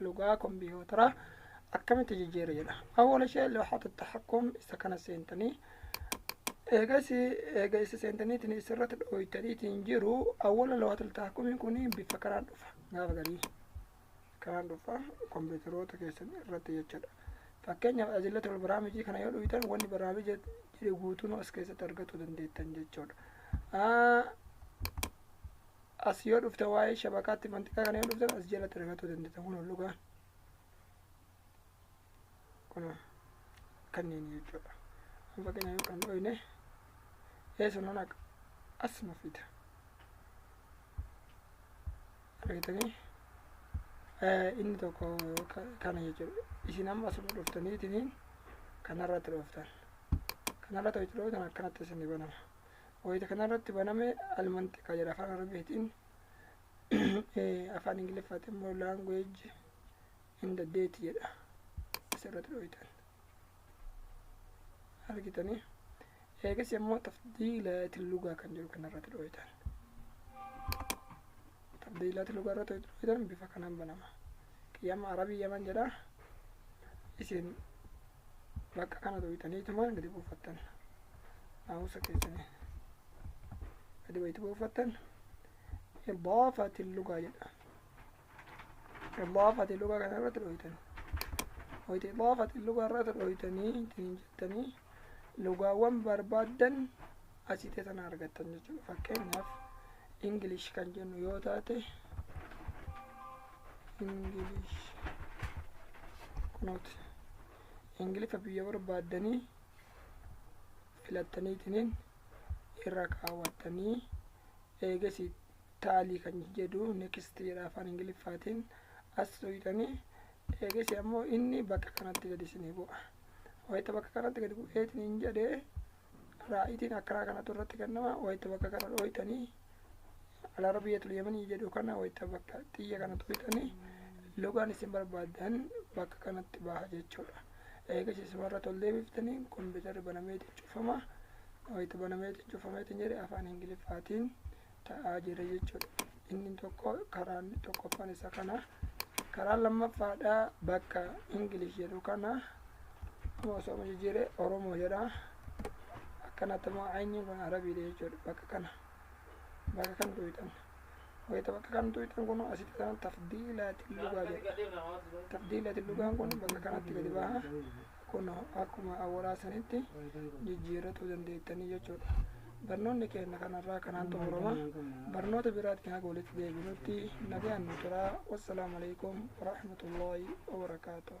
lugaa kompiitara akkamitti jijjiira jedha awwala ishee looxatu taxaqqum isa kana seentanii eega isi eega isa seentaniitiin isirratti dhooytaniitiin jiru awwala looxatu taxaqqumii kun bifa kanaan dhufa gaafa garii kanaan dhufa kompiitaroota keessan irratti jechuudha fakkeenyaaf ajilla tol baraamijii kana yoo dhuytan wanni baraamija jiru guutuun as keessatti argachuu dandeettan jechuudha as yoo dhufte waa'ee shabakaatti manxiqaa kana yoo dhufte as jalatti argachuu dandeessa kun ol dhugaa kun kanneen jechuudha amma fakkeenyaa yoo kan dhooyne eessan hona as nu fida argitanii inni tokko kana jechuudha isin amma asuma dhuftaniitiniin kanarratti dhooftan kanarratti hojitu dhooftan akkanatti isin banama wayita kanarratti baname almantiqa jedha afaan arabiitiin afaan ingiliffaatiin immoo language in the date jedha asirratti dhooytan argitanii eegas immoo tafdiilaati lugaa kan jiru kanarratti dhooytan tafdiilaati lugaa irratti dhooytan bifa kanaan banama qiyama arabii yaman jedha isin bakka kana dhooytaniituma gadi buufattan naamusa keessanii gadi wayitu boofattan idaafati lugaa jedha idaafati lugaa kana irratti dhooytan wayitu idaafati lugaa irratti dhooytanii ittiin jettanii lugaawwan barbaaddan asii teessan argattan jechuudha fakkeenyaaf ingilish kan jennu yoo taate ingilish kunooti ingilifa biyya barbaaddanii filattaniitiniin irra kaawwattanii eegasi taalii kan jedhu next jedha afaan ingiliffaatiin as tuqxanii eegasi ammoo inni bakka kanatti gadi isinii bu'a wayita bakka kanatti gadi bu'eetiniin jedhee raa'itiin akkaraa kanatu irratti kennama wayita bakka kana dhooytanii alarabiyatul yamanii jedhu kana wayita bakka xiyya kana tuqxanii lugaan isin barbaadan bakka kanatti baha jechuudha. Eegas isumarra tol deebiftanii kompiitarri banameetiin cufama. Wayita banameetiin cufameetiin jedhe afaan Ingiliffaatiin ta'aa jira jechuudha. Inni tokko karaan tokkoffaan isa kana. Karaa lammaffaadha bakka Ingilish jedhu kana amma osoo jijjiire Oromoo jedha. Akkanatti immoo ayiniin kun Arabiidha jechuudha bakka kana. bakka kam tuuyxan wayita bakka kam tuuyxan kun asitti kana tafdiilaatiin lugaa jedha tafdiilaatiin lugaan kun bakka kanatti gadi baha kun akkuma awwalaa sanitti jijjiirratuu dandeettanii jechuudha barnoonni keenya kanarraa kanaan xumurama barnoota biraatti haga walitti deebinutti nagaan nu turaa wassalaamu alaikum warahmatullaahi wabarakaatuh